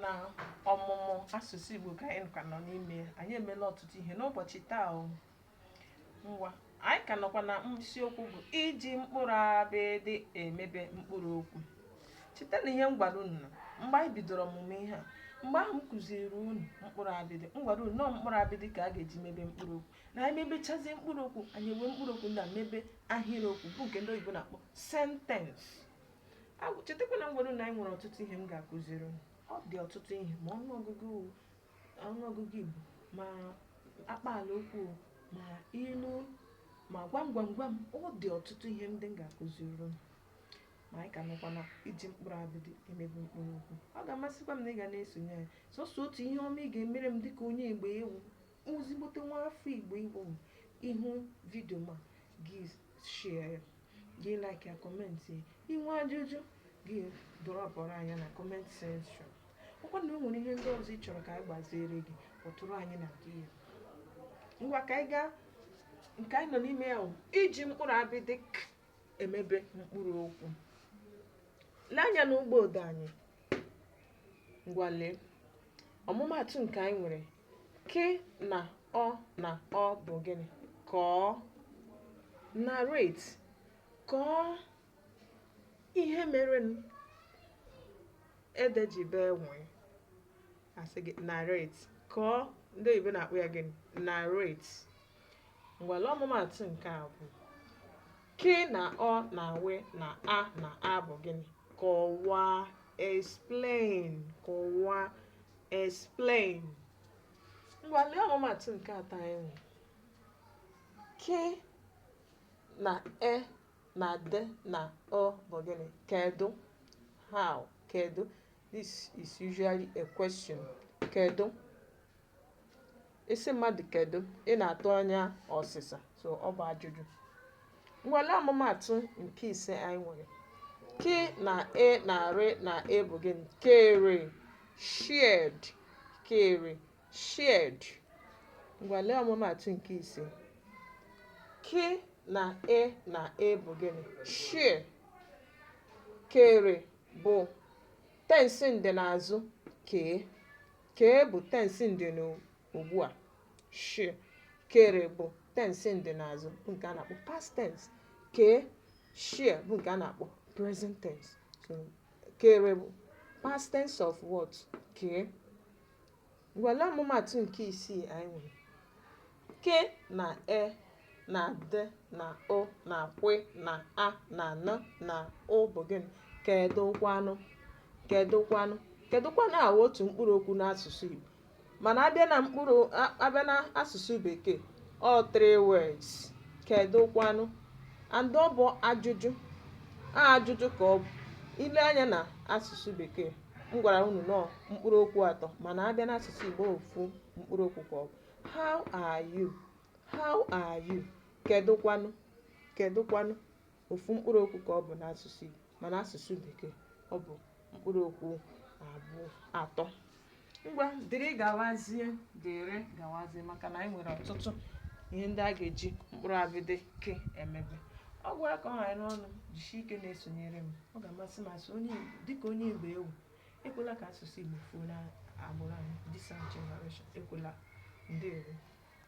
na ọmụmụ asụsụ Igbo ka anyị ka nọ n'ime ya anyị emela ọtụtụ ihe n'ụbọchị taa o ngwa anyị ka nọkwa na isiokwu bụ iji mkpụrụ abịdị emebe mkpụrụ okwu cheta na ihe m gwara unu na mgbe anyị bidoro ọmụmụ ihe a mgbe ahụ m kụziri unu mkpụrụ abịdị m gwara unu na ọ mkpụrụ abịdị ka a ga-eji mebe mkpụrụ okwu na anyị mebechazie mkpụrụ okwu anyị ewere mkpụrụ okwu ndị a mebe ahịrịokwu bụ nke ndị oyibo na-akpọ sentensị Agwụ- chetakwa na m gwara unu na anyị nwere ọtụtụ ihe m ga-akụziri unu. ọ dị ọtụtụ ihe ma ọnụọgụgụ o, ọnụọgụgụ igbo ma akpaala okwu o, ma ilu o, ma gwam gwam gwam ọ dị ọtụtụ ihe ndị m ga-akụziri unu ma anyị ka nọkwa na iji mkpụrụ abịdị emebe mkpụrụ okwu ọ ga-amasịkwa m na ị ga na-esonye anyị sọsọ otu ihe ọma ị ga-emere m dịka onye Igbo ị wụ Ezigbote nwa afọ Igbo ị bụ, ị hụ vidio m a gị share ya, gị like ya, comment ya. I nwee ajụjụ gị dropụrụ anyị ya na comment section. Ọkwa na o nwere ihe ndị ọzọ ị chọrọ ka anyị gbaziere gị, kpọtụrụ anyị na gị ya. Ngwa ka anyị gaa nke anyị nọ n'ime ya bụ iji mkpụrụ abịdị k emebe mkpụrụ okwu. Lee anya n'ụgbọ odee anyị. Ngwa lee. Ọmụmaatụ nke anyị nwere Kị na ọ na ọ bụ gịnị? Kọọ. Narrate. Kọọ ihe merenụ ede ji bee nwii. A sị gị narrate. Kọọ ndị oyibo na-akpọ ya gịnị? Narrate. Ngwa lee ọmụmaatụ nke abụọ kị na ọ na wị na a na a bụ gịnị? Kọwaa. Explain. Kọwaa. Explain. Ngwa lee ọmụmaatụ nke atọ anyị nwere. Kị na e na dị na ụ bụ gịnị? Kedụ? How? Kedụ? This is usually a question. Kedụ? Ị sị mmadụ kedu ị na-atụ anya ọsịsa so ọ bụ ajụjụ ngwa lee ọmụmaatụ nke ise anyị nwere kị na e na rị na e bụ gịnị kere shared kere shared ngwa lee ọmụmaatụ nke ise kị na e na e bụ gịnị share kere bụ tensị ndịnazụ kee Kee bụ tensị ndịnugbu a. Share, kere bụ tensị ndịnazụ bụ nke a na-akpọ past tense. Kee, share bụ nke a na-akpọ present tense. So, kere bụ past tense of what? Kee. Ngwa lee ọmụmaatụ nke isii anyị nwere. Ke na e na dị na ụ na kwe na a na nụ na ụ bụ gịnị? Kedụkwanụ? Kedụkwanụ? Kedụkwanụ a wụ otu mkpụrụ okwu n'asụsụ Igbo. Mana a bịa na mkpụrụ a a bịa na asụsụ Bekee, ọ three words. Kedụkwanụ? And ọ bụ ajụjụ. A ajụjụ ka ọ bụ. I lee anya na asụsụ Bekee, m gwara unu na ọ mkpụrụ okwu atọ mana a bịa n'asụsụ Igbo ofu mkpụrụ okwu ka ọ bụ. how are you how are you kedụkwanụ kedụkwanụ ofu mkpụrụ okwu ka ọ bụ n'asụsụ Igbo mana asụsụ bekee ọ bụ mkpụrụ okwu abụọ atọ ngwa dịrị gawazie dịrị gawazie maka na anyị nwere ọtụtụ ihe ndị a ga-eji mkpụrụ abịdị ke emebe ọ gwara ka ọ ghara unu jisie ike na-esonyere m ọ ga-amasị m asị onye Igbo dịka onye Igbo ị wụ Ekwela ka asụsụ Igbo fuo n'agbụrụ anyị, this our generation, ekwela. Ndewo.